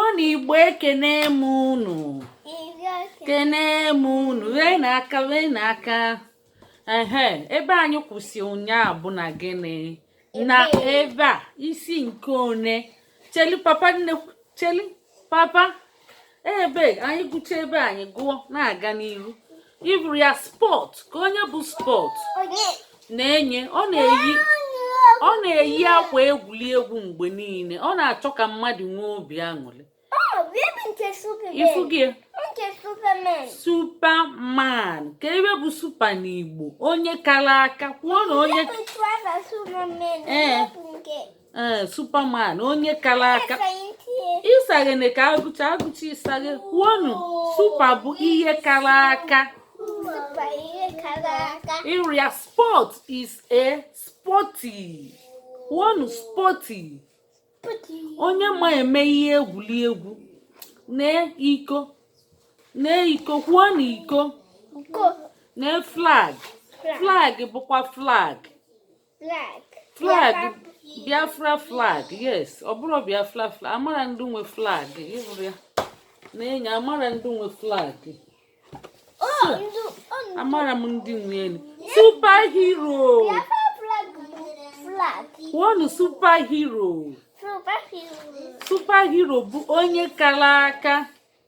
ọ na igbo ekene m unu kene m unu wee na aka wee na aka ehe ebe anyị kwụsị ụnyaahụ bụ na gịnị na ebe a isi nke one chelu papa nne chelu papa ebe anyị gụcha ebe anyị gụọ na-aga n'ihu ị hụrụ ya sport ka onye bụ sport Nenye ọ na-eyi ọ na-eyi akwa egwuregwu mgbe niile ọ na-achọ ka mmadụ nwee obi aṅụrị ifugie superman ka ihe bụ super n'igbo onye kara aka kwuonu onye ee eh, superman onye kara aka ịsaghene ka a gụcha a gụcha ị saghe kwuonu super bụ ihe kara aka ịrịa sport is a sporty kwuonu sporty onye ma eme ihe egwuregwu na iko na iko kwuonu iko na flag flag bụkwa flag flag flag biafra flag yes ọ bụrụ biafra flag amara ndị nwe flag ị hụrụ ya Nenye amara ndị nwe flag amara m ndị nwe elu super hero kwuonụ super hero super hero bụ onye kara aka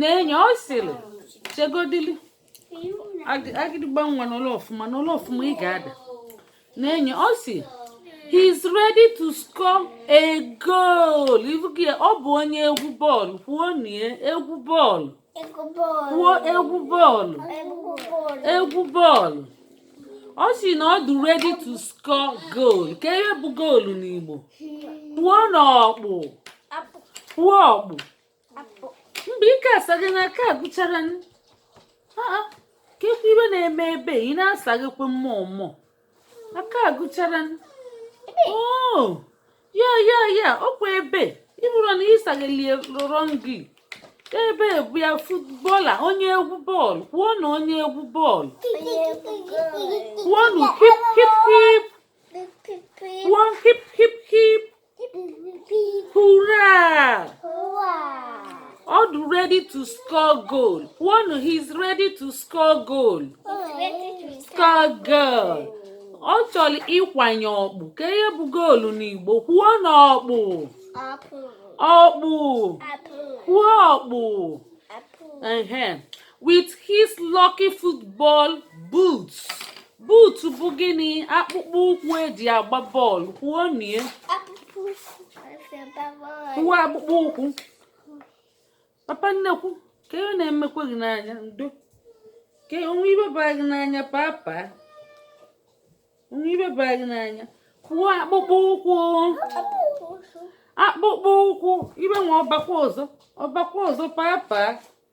Nenye ọ sịrị chegodili agịdịgba nwa nọlụ ọfụma nọlụ ọfụma ị ga-ada Nenye ọ sị he is ready to score a goal ọ bụ onye egwu bọọlụ kwuonu egwu bọọlụ kwuo egwu bọọlụ egwu bọọlụ ọ sị na ọ dị ready to score goal ka ihe bụ goal n'Igbo kwuonu ọkpụ kwuo ọkpụ mgbe ike asaghena aka agụchara ka e kwuo ihe na-eme ebe ị na-asaghekwa mmụọ mmụọ aka agụchara oh, ya ya ya ọkwa ebe ị hụrụ na ị saghelie rụrọ gị ebe bụ ya footballer onye egwu bọọlụ kwuonu onye egwu bọọlụ kwuonu hip hip hip kwuo hip hip hip Hurrah! Ọ dị ready to score goal. One, he's ready to score goal. Score goal. Ọ chọrọ ịkwanye ọkpụ. Ka ihe bụ goal n'Igbo? Kwuonu ọkpụ. Ọkpụ. Kwuo ọkpụ. With his lucky football boots. buutu bụ gịnị akpụkpọ ụkwụ eji agba bọọlụ kwuonụ ya kwuo akpụkpọ ụkwụ papa nnekwu kee ihe na-emekwa gị n'anya ndo ka o nwe ihe bara gị n'anya papa o nwe ihe bara gị n'anya kwuo akpụkpọ ụkwụ akpụkpọ ụkwụ ihe nwa ọ bakwa ọzọ ọ bakwa ọzọ papa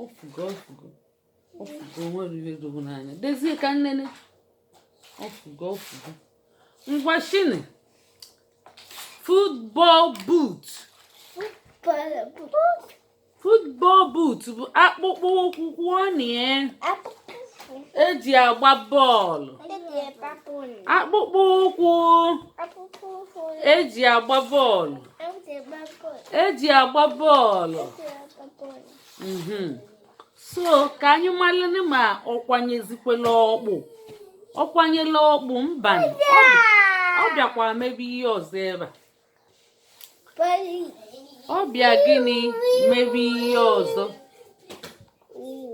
ọ fụgo ọ fụgo ọ fụgo nwere ihe dogo n'anya dozie ka m nene ọ fụgo ọ fụgo ngwa shịnị football boot football boot bụ akpụkpọ ụkwụ kwuonụ ya eji agba bọọlụ akpụkpọ ụkwụ eji agba bọọlụ eji agba bọọlụ mhm. so ka anyị malụnụ ma ọ kwanyezikwela ọkpụ ọ kwanyela ọkpụ mbanụ ọ bịakwa mebe ihe ọzọ ebe a ọ bịa gịnị mebe ihe ọzọ